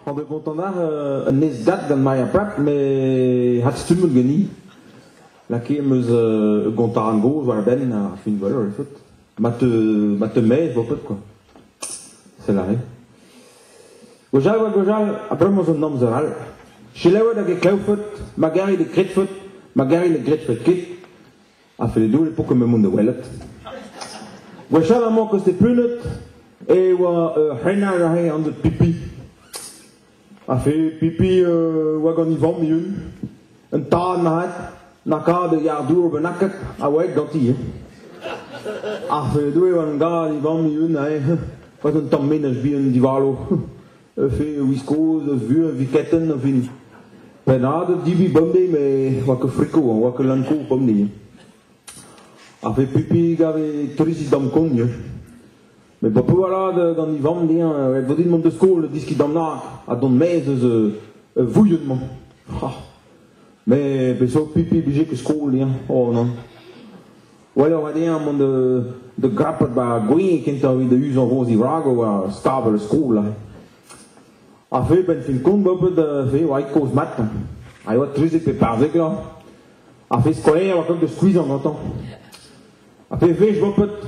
On bet kontant-war euh, un ezdat gant Maria Prat, met hadstummout ganin. Lakaet em eus euh, gontaran gozh war e benn ar finvol, ar fot. Ma te, ma te met, vo pas quoi. Sell aze. Gwechall oa gwechall, abalamour eus an amzer all, selaouet hag e klavfot ma garit e gredfot, ma garit ne gredfot ket, a felle doul e pokomp mont da welet. Gwechall amañ koste punet e oa ur c'hrennard aze an dud pipi. Afe pipi euh, oa gant e vamm eeun. Un tad marc'had, lakaat e yar dour bennaket a oa ganti. Hein. Afe doe oan gad e vamm eeun aze, oa un tamm menaj bihan divalo. Afe wiskoz eus vu a viketen a vini. Pennad divi bamde, me oa ke friko, oa ke lanko bamde. Afe pipi gave trisi dam kogn. Met ba Poualad d'an Ivan dezhañ ret vo din mont da skol deskiñ damnag ha dont maez eus ur vouilhon-mañ. Ha. Mais peseurt pipi blije ket skol dezhañ oh non. Wel oa dezhañ mont da da grappat ba gwin kentañ evit da uzañ roz divrag war stabl skol. Ha fe ben fin kont ba pet fe oa kozh mat. Ha oa trezek pe parzek la. Ha fe skolaer oa kont da skuizhañ gantañ. Ha fe fech ba pet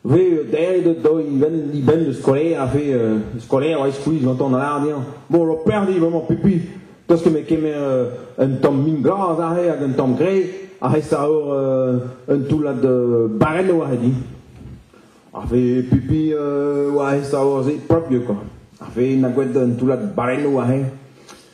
Ve deret do e-benn da skolaer a ve skolaer a eskouiz gantañ da lâret dezhañ bon ho perdi bremañ pipi Tost ket me kemer un tamm min glas aze hag un tamm gre a resa ur un toullad barelloù aze di. A ve pipi oa resa ur se prop quoi. A ve na gwet un toullad barelloù aze.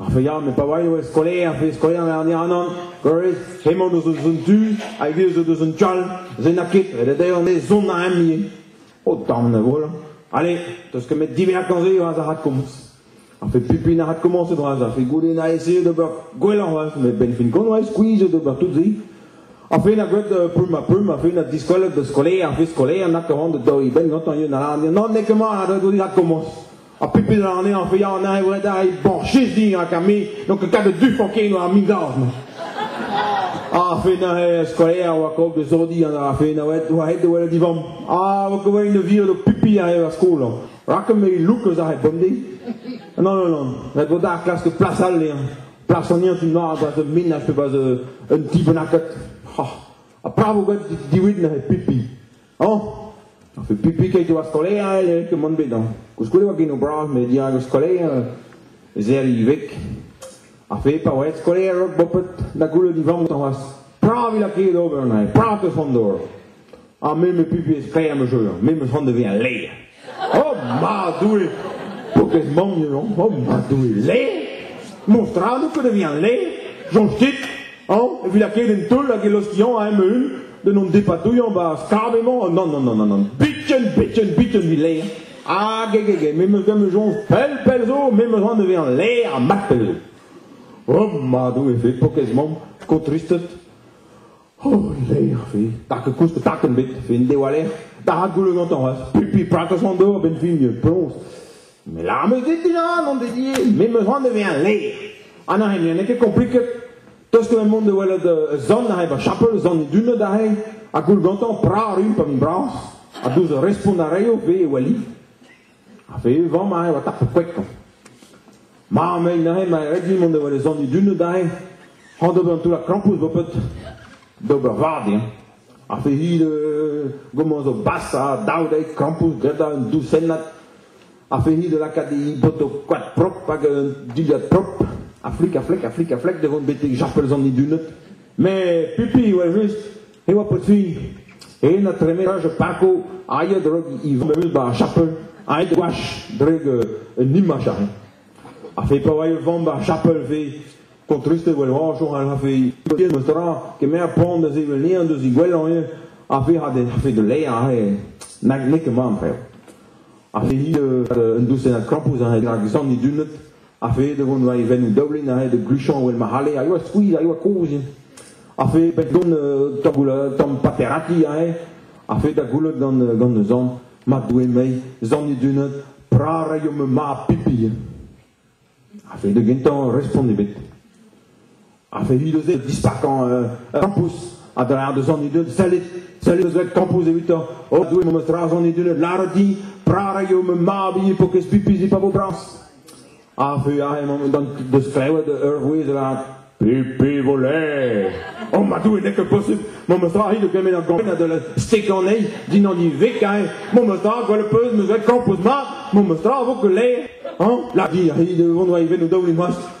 Ar feiañ, pa oa eo skolaer, fe skolaer an Iranan, gores, hemañ deus eus un tu, hag he eus eus un tchal, se n'a ket, ret eo me zont a emni. O damm ne voilà. Allez, teus ket met diverkañ se oas a rat komz. A fait pipi na rat commencé droaz, a fait goude na essayé d'ober gwelloc'h oaz, mais ben fin kon oa squeeze d'ober tout zi. A fait na gwelet euh, pum a pum, a fait na diskolet de skolaer, a fait skolaer na kavan de doi ben gantañ yun a la non ne ket ma a da dodirat commence. Ha pepet anezhañ a ya anezhañ e redare bon, Jezig hag me, donc kavet du fokin war min daz-mañ. A fe neuze skolaer oa kaout de zodi an a fe neuze oa het de welet divam. A oa kaout un vir de pipi a eo ar skol. Rakem me look eus ar het bonde. Non, non, non. Ret vo da klask plas all lean. Plas an ien tu noaz a zo menaj pe bas un ti bennaket. Ha bravo gant diwid neuze pipi. Oh! Pipik eo ar skolaer eo kemont bet hein. Koulskoude oa genou bras met dirak ar skolaer ez ea ivek. A fe pa oa skolaer rok bopet da goulet vamm tamas. Pra vila ket ober na, pra te fondor. Ha me me pipi e sklaer me jeu, me me fond de ve a leer. O ma Doue, po bet mont, o ma Doue, le? Mostrad, pet a vihan le? Soñj dit, an, evit lakaet en teul hag e lostiañ a eme un, d'en hon depadouilhañ ba skab emañ, non, non, non, non, non, biken, biken, biken vi le. Hag eg, eg, me meus gant soñj pell, pell zo, me meus an evezañ le ar mat pell zo. O ma Doue, fe pokez mamm, sko tristet. Oh, lec'h vez. Park koust, park ebet, fin diwaller. Bara gouloù gantañ raz. Pipi prakos an dor, ben fin ploñs. Mais la me dedina, mon dédié, mais me rend devient laid. An a n'eo ket compliquet. Tos que monde de welet zon a eva chapel zon duna da rei a goul gantañ pra rum pam bras a douz respont a reio ve e weli. Ha fevet-vamm aze oa tapet poetañ. Ma, mei neuze, ma red dit mont da welet zon dun adarre, hañ d'ober un toullad krampouezh bo pet, d'ober vad eo. Ha fe'it euh, gomañ zo bas ha dav dezhe krampouezh gretañ un dousennad. Ha fe'it lakaat e boto koad prop hag un dilhad prop. A flik, a flik, a flik, a flik da vont betek japel zon dun. Mais pipi, well just, e oa potfig en a tremetaj pako aet rak izolamul ba chapel aet gwach dreg un imaj a a fe pa oa e vamm ba chapel ve kontriste wel hoajour a fe tien eus tra kemer pont da zevel lean deus i gwellañ eo a fe ha de a fe de leia ahe nag neke man freo a fe ni un dousen a krapous a rak zan i dunet A-fed e vont war e venn daoulin a red gluchañ evel ma c'halle a yoa skuizh a yoa kozh a-fed bet gant tagoul tamm paterati aze a-fed da goulot gant gant zan ma doe mei zan edunat pra rayomp ma pipi a-fed da gentañ respont ebet a fait vite eus dispartañ euh, campus a dra deus an idud sellit sellit eus vet campus evitañ o doe mem eus dras an idud lâret din prara eo me mab int po kez pipis pa vo brañs a fe ahe mem dan deus klewet ur vouezh avat Pipi voler Oh ma doe n'est que possible Mon mostra rit de gamet ar gampen de la stekanei Din an ivekae Mon mostra gwell peus meus vet kampus mat Mon mostra vo que le Hein La di rit de vont va iven o daoulin hoast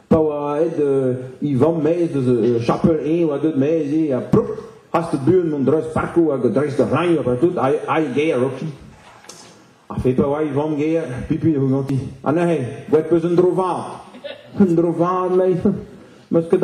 pa oa aet e vamm maez eus chapel 1 oa deut maez ha plouk hast buan mont dreist parkoù hag dreist ar rañioù ha tout ae ger oki ha fe pa oa e vamm ger pipi eo ganti ha neuze gwet peus un dro vat un dro vat mei meus ket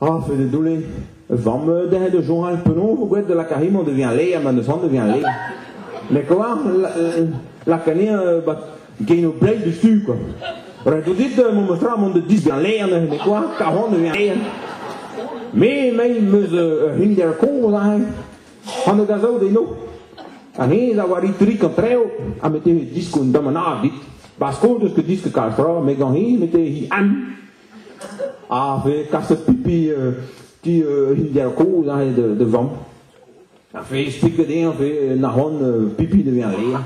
Ah, fait de doulé. Vamm euh, dezhe da journal penaos vo gwelet da lakarimant da vezañ le ha ma n'eus c'hoant da vezañ le. Mais quoi, lakanin bat gain o bled du quoi. Ret out dit mon motra mont de dis bien le anezhe, mais quoi, karon da vezañ le. Me mei meus ur hinder kozh ahe, an da gazaout eno. Anez a war itrik an treo, a mette he disk un damanad dit. Parce que deus que disk kal fra, me gant he mette he an. Ha vez kaset pipi ti Indian kozh aze da vamm. Ha vez stiket eñ vez nac'hont pipi da vezañ re.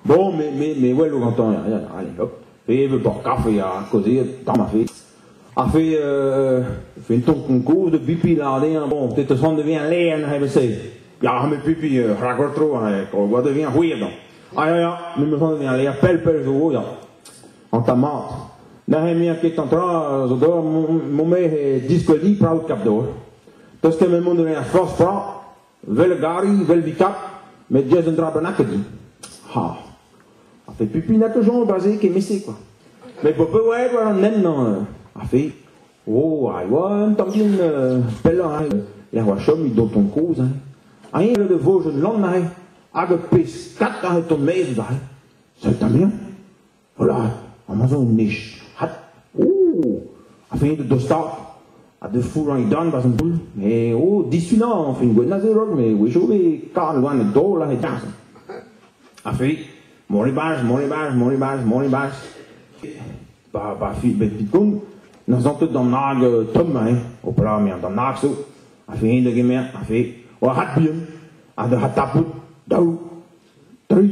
Bon, me, me, me welo gantañ allez hop. Vez vet bor kafe ha kaozeet tamm a fez. Ha vez euh, vez un ton konkov da pipi lâret eñ bon peut-être da son da vezañ len ha se. Ya me pipi rakol tro ha gwad da vezañ c'hwir dont. Ha ya ya me me son da vezañ ler pell pell zo ya. an tamad. Neuze mia ket an tra zo dor mon me he diskwedi praout kap dor. Tos ket me mont da a fors fra, vel gari, vel bikap, met diez un dra bennak edi. Ha. A fe pupi na toujours basé ke mese quoi. Mais pour peu ouais war an nen a fe oh ai oa un tamblin pellañ hein er oa chom dont ton koz hein Aïe le de vos jeunes lan aïe hag pes kat aïe ton mez aïe c'est un bien Voilà, amañ zo un nij. Hat, oh, a-fed da dostaat. Ha da fourrañ dan barzh an toull. Me, oh, disunañ añfin gwenn a zerot, me wezho be karn gwan e dol ha e darzh. A-fed, Monibaj, Monibaj, Monibaj, Monibaj. Ba, ba, fi, bet bitkoun, na zantet d'an nag euh, tomm, hein. Opala, me an d'an nag zo. A fe da gemer, a fe, oa hat bihan, a da hat tapout, daou, tri,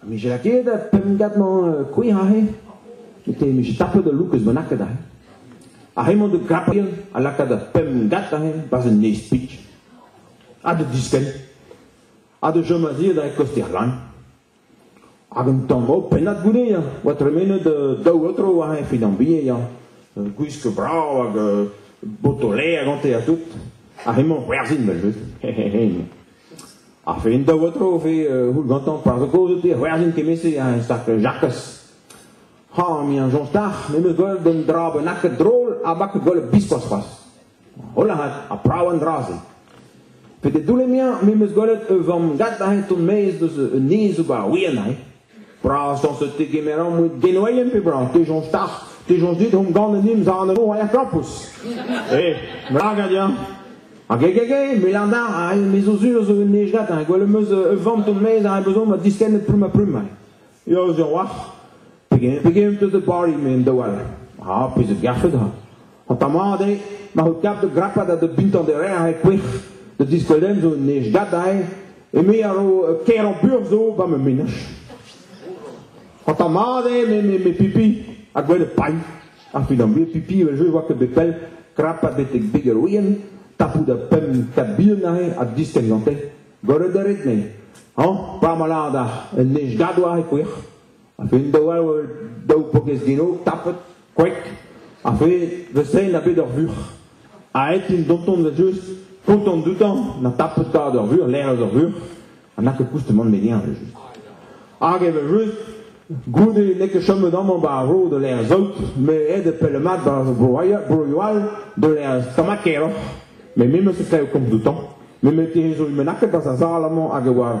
Ha vije aket pemp-gant kouezh aze. Te em eus tapet ul louk eus bennaket aze. Ar re-mañ de Gabriel a laka da pemp-gat aze barzh un nez-pik. Ha da diskenn. Ha da chom a-zi da kostiñ ran. Hag un tango pennad goude ya. Oa tremenet daou otro aze evit ambie ya. Gwisk brav hag botolet a gante ha tout. Ar re-mañ gwerzhin vel-just. Ar ferin daou a-dro e vez houl gantañ par zo kaoz out eo c'hwerzen kement-se un start Jakez. Ha, me an soñj d'ac'h, me meus gwell d'un dra bennaket drol ha baket gwell biskoazh c'hoazh. Hola hat, ha prav an dra-se. Pe de doulle mia, me meus gwelet e vamm gat aze ton-maez deus un nez ober a ouien aze. Brasañs zo tegemeran moued genourien pe brav te soñj start te soñj dit hon gant un imzanennoù a flampous e lagad ya hag e gege melanda a me zo sur zo un ejgat ha gwell am eus ur vamm ton mez a bezon ma distennet plum ha plum yo zo waf pegen pegen eus de bari men da wall ah pezh garfet ha Ha pa mat eo, ma c'ho kap da grapat ha da bintañ da reñv e kouec'h, da diskeudenn zo un nij gadañ, eme a ro uh, kêr burzh zo ba ma menaj. Ha ta mat eo me, me, me pipi a gwell pailh. A fin am pipi evel je oa ket bet pell krapat betek beg ar ouien, tapout a pemp, kat bihan aze ha distenn gante. Gorre da ret ne. Hañ, pa ma lada un nij gadwar e kouec'h. Fin daou all daou pokez gelo, tapet, kwek, ha fe da sell a bet ur vuc'h. Aet int donton da just, kontant doutañ, na tapet tad ur vuc'h, lec'h eus ur vuc'h, ha na ket koustemant me gein just. Hag e ve just, goude n'eo ket chom amañ ba ar vro de lec'h zaout, me ed e pell mat ba broioù all de lec'h stamakeroc'h, me me meus e klev komz doutañ, me me te zo imanaket ba ar sal amañ hag e oa